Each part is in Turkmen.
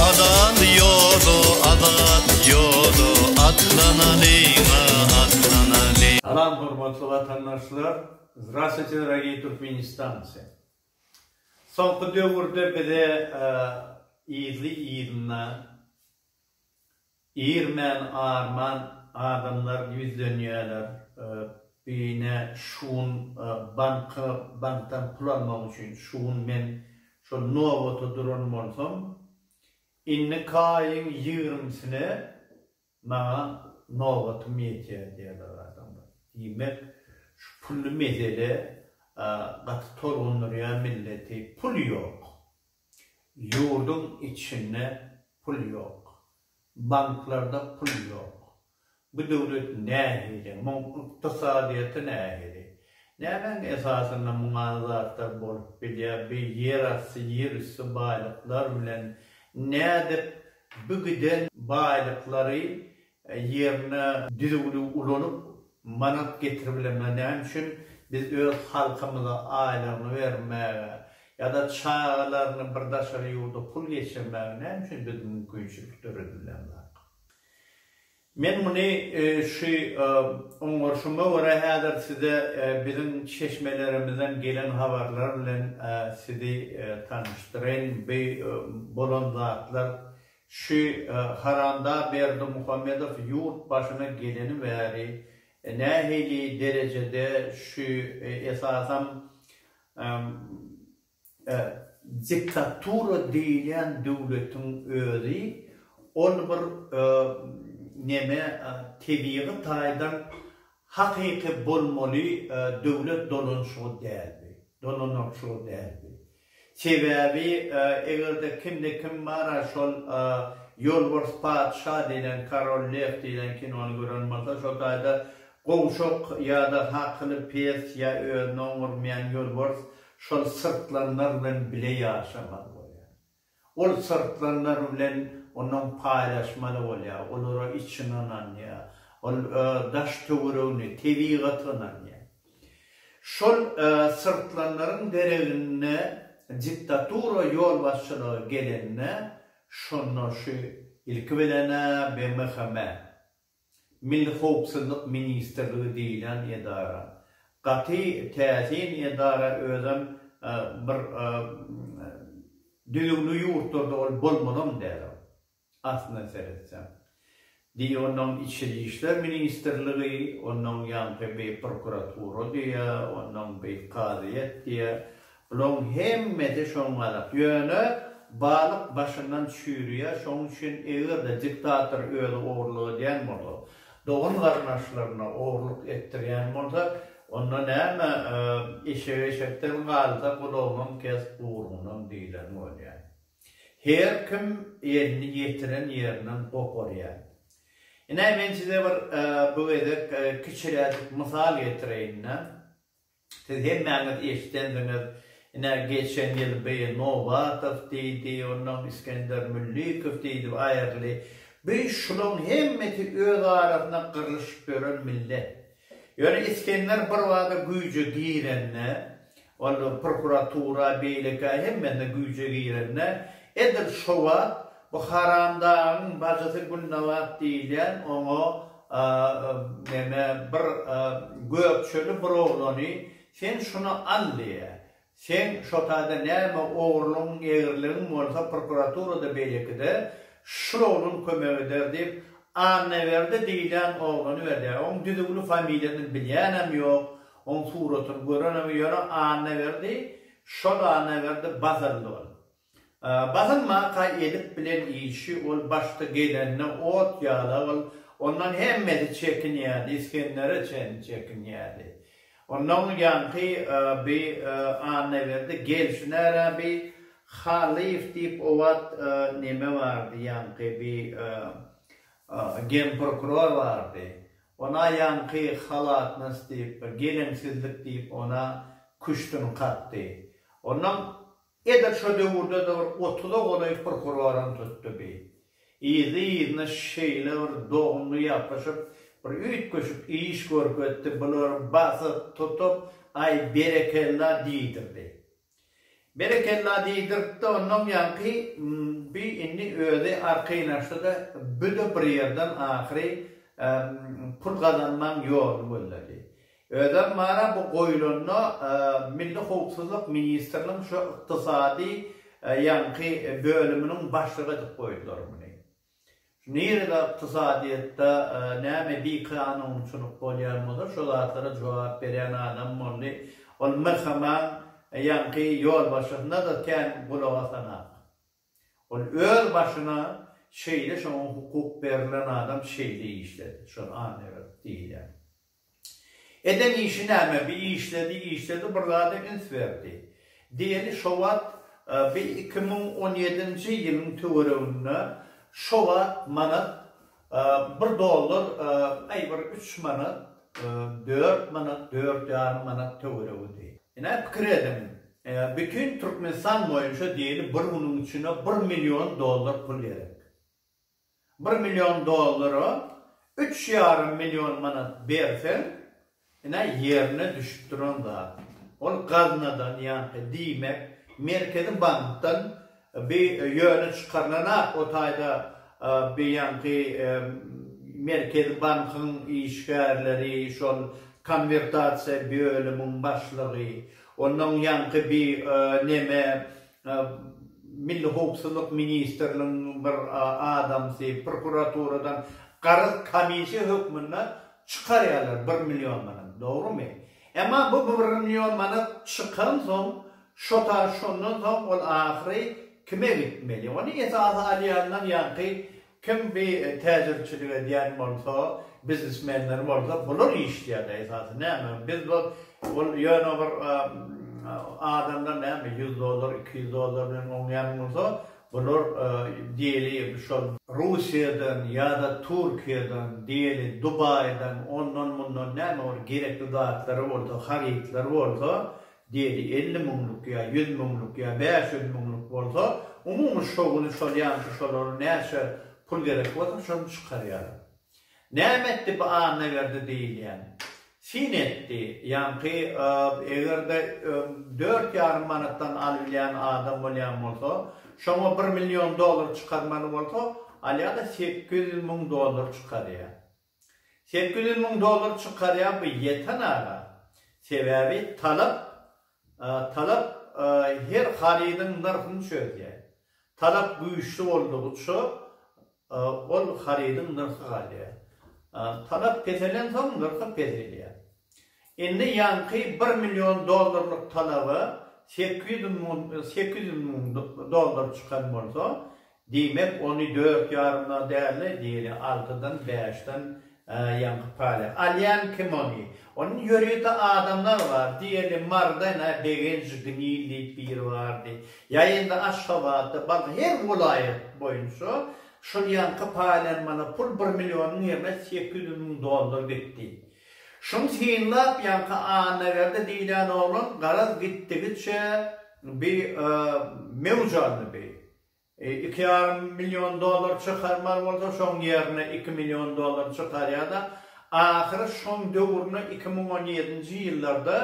Azat ýoda, azat ýoda, atlanalyň-a, atlanalyň. Salam hormatly watandaşlar! Zdrastwuyte dragii turkmenistanci! Soňky döwürde bize yzly yzyna Irmän arman adamlar ýüzlenýäler Bine şugun banka bankdan pul almak üçin şugun men şol nobata duran bolsam innik aýyň ýigrimisine maňa nobatym ýetýär diýýäler adamlar diýmek şu pully mesele gaty tolgundyrýar milleti pul ýok Ýurduň içinde pul ýok. Banklarda pul ýok. Bu döwlet nähili, muň ykdysadyýeti nähili? Nämäň esasynda muňa zatlar bolup bilýär? Bu ýerasty, ýerüsti baýlyklar bilen nädip bu giden baýlyklary ýerine düzüwini ulanyp manat getiribilenler näme üçin biz öz halkymyza aýlygyny bermäge ýada çagalaryny bir daşary ýurda pul geçirmäge näme üçin biz mümkinçilik döredibilenok men muny şu oňaryşyma görä häzir size biziň çeşmelerimizden gelen habarlar bilen sizi tanyşdyraýyn bu bolan zatlar Şü haranda Berdimuhamedow ýurt başyna geleni bäri nähili derejede şü esasam diktatura diýilýän döwletiň özi ol bir neme tebigy taýdan hakyky bolmaly döwlet dolanşygy däldi dolananşygy däldi Sebäbi eger-de kimde kim bar-a şol Ýolbars patyşa diýlen, Korol lew diýlen kinony gören bolsa, şol taýda gowşak ýa-da hakyly pes ýa özüni oňurmaýan ýolbars şol syrtlanlar bilen bile ýaşamaz bolýar. Ol syrtlanlar bilen onuň paýlaşmaly bolýar, olara içini ynanýar. Ol daş-töweregini, tebigaty ynanýar. Şol syrtlanlaryň deregine diktatura ýolbaşçylygy gelende, şonda şu ilki bilen-ä BMHM, Milli howpsuzlyk ministrligi diýlen edara gaty täsin edara özem bir düzüwli ýurtlarda ol bolmalam däl ol aslynda seretseň diý onnoň içeri işler ministrligi onnoň ýaňky beý prokuratura diýä onnoň beý kazyýet diýä Bulaň hemmesi şoňňalak. Ýöne balyk başyndan çüýrýär, şoň üçin eger-de diktator özi ogurlyk edýän bolsa, dogan-garyndaşlaryna ogurlyk etdirýän bolsa, onda näme, eşek eşekden galsa, gulagynam kes, guýrugynam diýleni bolýar. Her kim elini ýetiren ýerinden goparýar. Ine, men size bir bu gezek kiçiräjik mysal getireýin-de. Siz hemmäňiz eşidendiňiz, ine, geçen ýyl bi Nowatow diýdi, onnoň Iskender Müllikow diýdi, aýrly. Bi şulaň hemmesi öz arasynda gyrlyşyp ýören millet. Ýöne Iskender birbada güýje girende, ol prokuratura, beýleki, hemmesine güýje girende, edil şo wagt Bu haramdagyň bajysy Gülnabat diýilýän oňa neme bir gökçeli bir oglany sen şuny al diýýär. Seň şo taýda näme ogurlygyň egriligin bolsa prokuraturada beýlekide şu oglan kömek eder diýip Annaberdi diýilýän oglany berýär. Oň düzüwli familiýasyny bilýänem ýok, oň suratyny görenem ýöne Annaberdi şol Annaberdi Basyrly bolup. Basym mata edip bilen işi ol başda gelende ot ýala ol ondan hemmesi çekinýärdi isgendere çenli çekinýärdi ondan ýaňky bi annaberdi gelşinärä bi halyýew diýip o wagt neme bardy ýaňky bi genprokuror bardy ona ýaňky halatnost diýip bir geleňsizlik diýip ona küştün kakdy ondan Edil şo döwürde-de bir otuza golaý prokuroram tutdy bi. Yzly-yzyna şeýle bir dogumly ýapyşyp, bir üýtgeşik iş görkezdi, bulary basyp, tutup, Aý, berekella diýdirdi. Berekella diýdirip-de, onnoň ýaňky bi indi özi arkaýnaşdy-da, bu-da bir ýerden ahyry pul gazanmaň ýoluny gözledi. Özem mana bu goýulanda Milli howpsuzlyk ministriniň şu ykdysady ýaňky bölüminiň başlygy edip goýdular muny. Nirede ykdysadyýetde näme bikanunçylyk bolýan bolsa şo zatlara jogap berýän adam boldy. Ol MHMA-nyň ýaňky ýolbaşçysyna-da kän gulak asanok. Ol öz başyna şeýle şoňa hukuk berlen adam şeýle işledi, şony an ewert diýilýär. Eden işi näme bi işledi işledi bir zada üns berdi. Diýeli şo wagt bi iki müň on ýedinji ýylyň töwereginde şo wagt manat Bir dollar, aý bir üç manat, dört manat, dört ýarym manat töweregidi. Ine, pikir ediň, bütin Türkmenistan boýunça diýeli bir günüň içinde bir million dollar pul gerek. Bir million dollara üç ýarym million manat berseň, Ine, ýerine düşüp duran zat. Ol gaznadan ýaňky, diýmek, Merkezi bankdan bi ýöne çykarylanok. O taýda bi ýaňky Merkezi bankyň işgärleri, şol konwertasiýa bölümiň başlygy, ondan ýaňky bi neme Milli howpsuzlyk ministrligiň bir adamsy, prokuraturadan garaz komissiýa hökmünde Çykarýarlar bir million manat, dogrymy? Emma bu bir million manat çykansoň, şo ta şondan soň ol ahyry kime gitmeli? Ony esasy alýanlar ýaňky kim bi täjirçilik edýän bolsa, biznesmenler bolsa, bular işleýärler esasy. Näme, biz bu ol ýöne bir adamlar näme ýüz dollar, iki ýüz dollar bilen oňýan bolsa, Bular diýeli şol Russiýadan ýa-da Türkiýeden, diýeli Dubaýdan, ondan-mundan näme bir gerekli zatlary bolsa, harytlary bolsa, diýeli elli müňlük ýa ýüz müňlük ýa bäş ýüz müňlük bolsa, umumy şo güni şol ýaňky şolara näçe pul gerek bolsa, şony çykarýarlar. Näme etdi bu Annaberdi diýilýän? Syn etdi. Ýaňky eger-de dört ýarym manatdan alybilýän adam bolýan bolsa, şoňa bir million dollar çykarmaly bolsa, alýa-da sekiz ýüz müň dollar çykarýa. Sekiz ýüz müň dollar çykarýa bu ýeten aga. Sebäbi talap talap her harydyň nyrhyny çözýä. Talap güýçli boldugyça Ol harydyň nyrhy galýar. Talap peselensoň, nyrhy peselýär. Indi ýaňky bir million dollarlyk talaba sekiz ýüz müň dollar çykan bolsa, diýmek, ony dört ýarymdan däl-de, diýeli, altydan, bäşden Hä, ýaňky Palýa. Alýan kim ony? Ony ýörite adamlar bar. Diýeli, Marden-ä Begenji Gnil diýip biri bardy. Ýa indi Aşgabatda, bag, her welaýat boýunça şol ýaňky Palýan mana pul bir millionyň ýerine sekiz ýüz müň dollar gitdi. Şuny synlap, ýaňky Annaberdi diýilýän oglan garaz gitdigiçe bi mewj aldy bi. Iki ýarym million dollar çykarmaly bolsa, şoň ýerine iki million dollar çykarýar-da, ahyry şoň döwrüne iki müň on ýedinji ýyllarda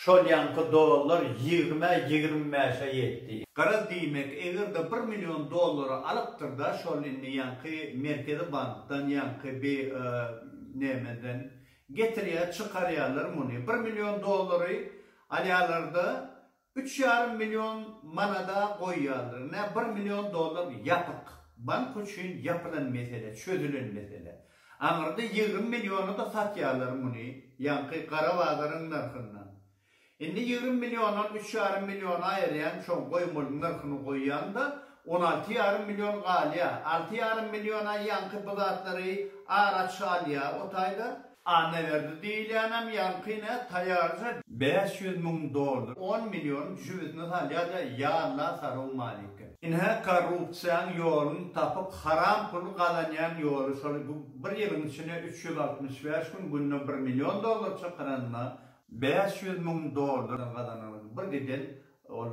şol ýaňky dollar ýigrimi-ä, ýigrimi bäş-ä ýetdi. Garaz, diýmek, eger-de bir million dollary alypdyr-da, şol indi ýaňky Merkezi bankdan, ýaňky bi, e, nämeden getirýär, çykarýarlar muny. Bir million dollary alýarlar-da, Üç ýarym million manada goýýarlar. Nä bir million dollar ýapyk. Bank üçin ýapylan mesele, çözülen mesele. Aňyrda ýigrimi milliona-da satýarlar muny, ýaňky gara bazaryň nyrhyndan. Indi ýigrimi milliondan üç ýarym million aýyrýaň, şoň goýmalyň nyrhyny goýýaň-da, on alty ýarym million galýar. Alty ýarym milliona ýaňky bu zatlary araç alýar o taýda. Annaberdi diýilýänem ýaňky ne taýýarja. Bäş ýüz müň dollar on million jübüsini salýada ýalla sarow maliki. Ine korrupsiýaň ýolun tapyp haram pul gazanýan ýoly şol bu bir ýylyň içine üç ýüz altmyş bäş gün günde bir million dollar çykyranyna bäş ýüz müň dollar gazananyny bir giden ol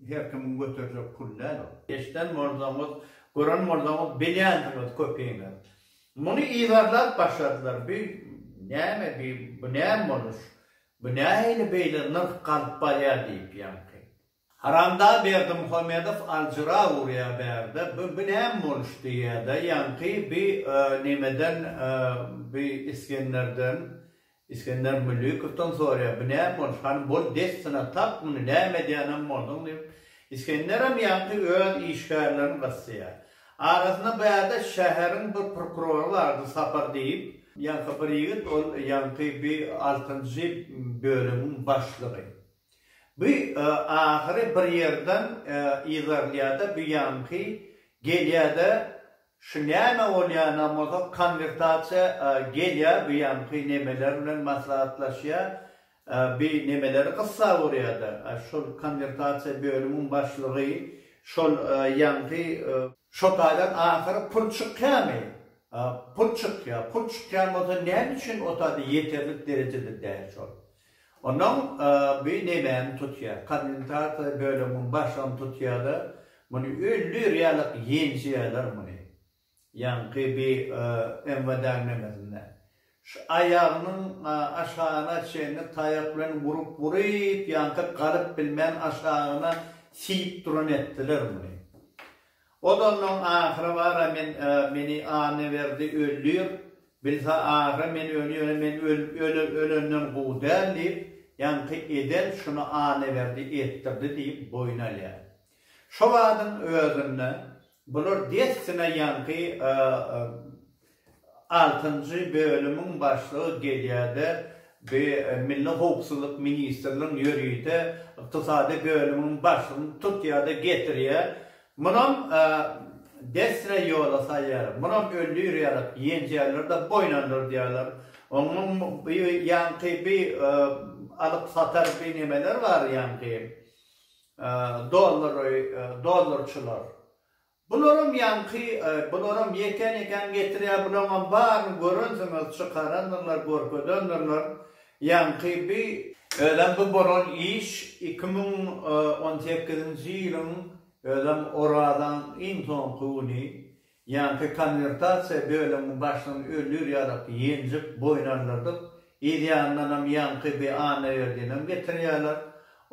her kimiň göterjek pul däl ol. Eşden bolsaňyz gören bolsaňyz bilýänsiňiz köpiňiz. Muny yzarlap başladylar, bi näme, bi bu näme boluş, bu nähili beýle nyrh galyp barýar diýip ýaňky. Haramda Berdimuhamedow aljyra urýar bärde, bi bi näme boluş diýýär-de ýaňky, bi nemeden, bi Isgenderden Isgender Müllükowdan soraýar, Bu näme boluş, hany bol dessine tap muny, näme edýänem bolduň diýip, Isgenderem ýaňky öz işgärlerini gysýar. Arasynda bärde şäheriň bir prokurory bardy Sapar diýip, ýaňky bir ýigit, ol ýaňky bir altynjy bölümiň başlygy. Bu ahyry bir ýerden yzarlýada bu ýaňky gelýädä şu näme bolýanam bolsa konwertasiýa gelýä bu ýaňky nemeler bilen maslahatlaşýa bu nemeleri gyssa urýada şol konwertasiýa bölümiň başlygy şol ýaňky şo taýdan ahyry pul çykýamy pul çykýa pul çykýan bolsa näme üçin o taýda ýeterlik derejede däl şol Onuň bu nemäni tutýar? Kommentasiýa bölümiň başyny tutýar-da, muny ünli realok ýenjeýärler muny. Ýaňky bi MWD-niň nemesinde. Şu aýagynyň aşagyna çenli taýak bilen urup-uryp, ýaňky galyp bilmän aşagyna siýip duran etdiler muny. Odandan ahyry bar-a men meni Annaberdi öldür, bilse ahyry men öl ýöne men öl ölenden gowy däl diýip, ýaňky eden şuny Annaberdi etdirdi diýip boýun alýar. Şo wadyň özünde bular dessine ýaňky Altynjy bölümiň başlygy gelýärde bi Milli howpsuzlyk ministrligiň ýörite ykdysady bölümiň başlygyny tutýarda getirýär. Munam dessre ýola salýarlar. Munam öldür ýalyk ýenjärler-de boýnandyrdýarlar. Onuň bi ýaňky bi alyp satar bi nemeler bar ýaňky dollar dollarçylar. Bularam ýaňky bularam ýekän ýekän getirýär bulaňam baryny görensiňiz çykarandyrlar görkezendirler ýaňky bi. Özem bu bolan iş iki müň on sekizinji ýylyň özem orazaň iň soňky güni ýaňky konwertasiýa bölümiň başdan öldür ýalyk ýenjip boýun aldyrdyk yz ýanyndanam ýaňky bi Annaberdinem getirýärler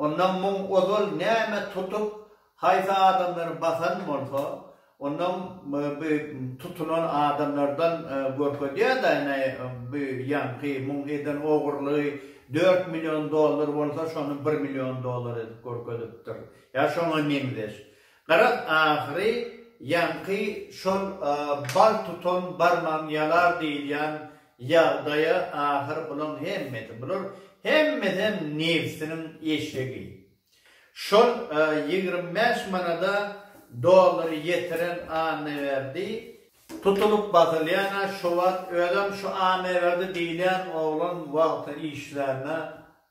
ondan müň ozal näme tutup Haýsy adamlary basan bolsa, ondan bu tutunan adamlardan görkezýär-de, ine, bu ýaňky muň eden ogurlygy dört million dollar bolsa, şony bir million dollar edip görkezipdir, ýa şoňa meňzeş. Garaz, ahyry ýaňky şol bal tutan barmagyň ýalar diýilýän ýagdaýa ahyr bulaň hemmesi, bular hemmesem nebsiniň eşegi. Şol ýigrimi bäş manada dollary ýetiren Annaberdi. Tutulyp basylýan-a şu wagt özem şu Annaberdi diýilýän oglan wagty işlände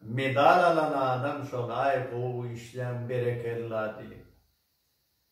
medal alan adam şol-aý gowy işleýäň berekella diýip.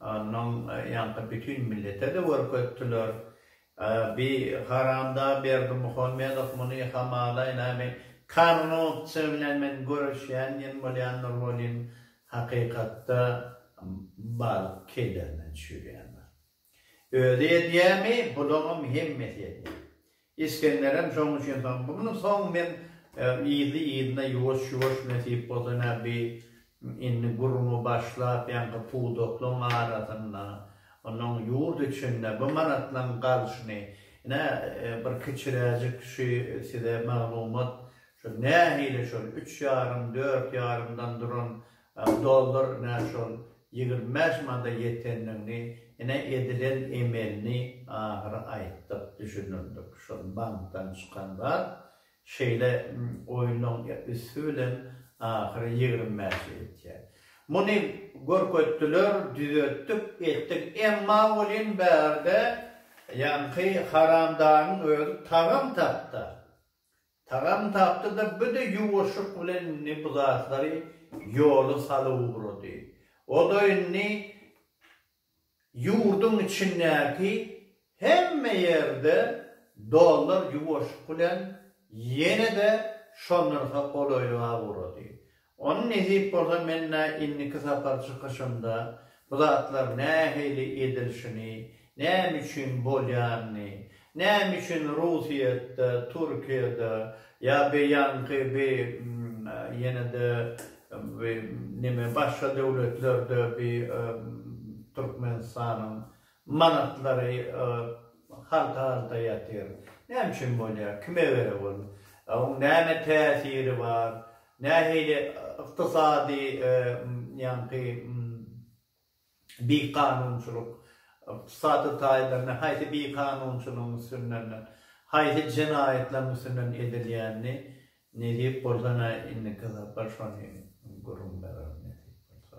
Onnoň ýaňky bütin millete-de görkezdiler. Bi haramda Berdimuhamedow muny hamalaý näme, korrupsiýa bilen men göreşýän diýen bolýan Nurwelin hakykatda bal kedermen çüýrýändir. Özi edýämi, bularam hemmesi edýär. Isgenderem şoň üçin soň, muny soň men yzly-yzyna ýuwaş-ýuwaş nesip bolsa ine bi indi gürrüňi başlap ýaňky pudaklaň arasynda, onuň ýurt içinde bu manatlaň galşyny, ine bir kiçiräjik şü size maglumat, şol nähili şol üç ýarym, dört ýarymdan duran Dollar nä şol ýigrimi bäş manda ýetendigini ine edilen emelini ahyry aýtdyk düşündirdik şol bankdan çykan zat şeýle oýnuň üsti bilen ahyry ýigrimi bäşe ýetýä muny görkezdiler düzetdik etdik emma welin bärde ýaňky haramdagyň özi tagam tapda Tagam tapdy-da, bir-de ýuwaşlyk bilen indi bu zatlary ýola salyp ugrady. O-da indi ýurduň içindäki hemme ýerde dollar ýuwaşlyk bilen ýene-de şo nyrha golaýlyga ugrady. Ony nesip bolsa men-ä indiki sapar çykyşymda bu zatlar nähili edilişini, näme üçin bolýanyny, näme üçin Russiýetde, Türkiýede ýa be ýanky bi ýene-de bi neme başga döwletlerde bi Türkmenistanyň Manatlary halta-halta ýatyr. Näme üçin bolýar? Kime göre bol? Oň näme täsiri bar? Nähili ykdysady ýaňky bikanunçylyk, ykdysady taýlaryny haýsy bikanunçylygyň üstünden, haýsy jenaýatlaryň üstünden edilýänini nesip bolsa-da indiki sapar şony gürrüň bererin nesip bolsa.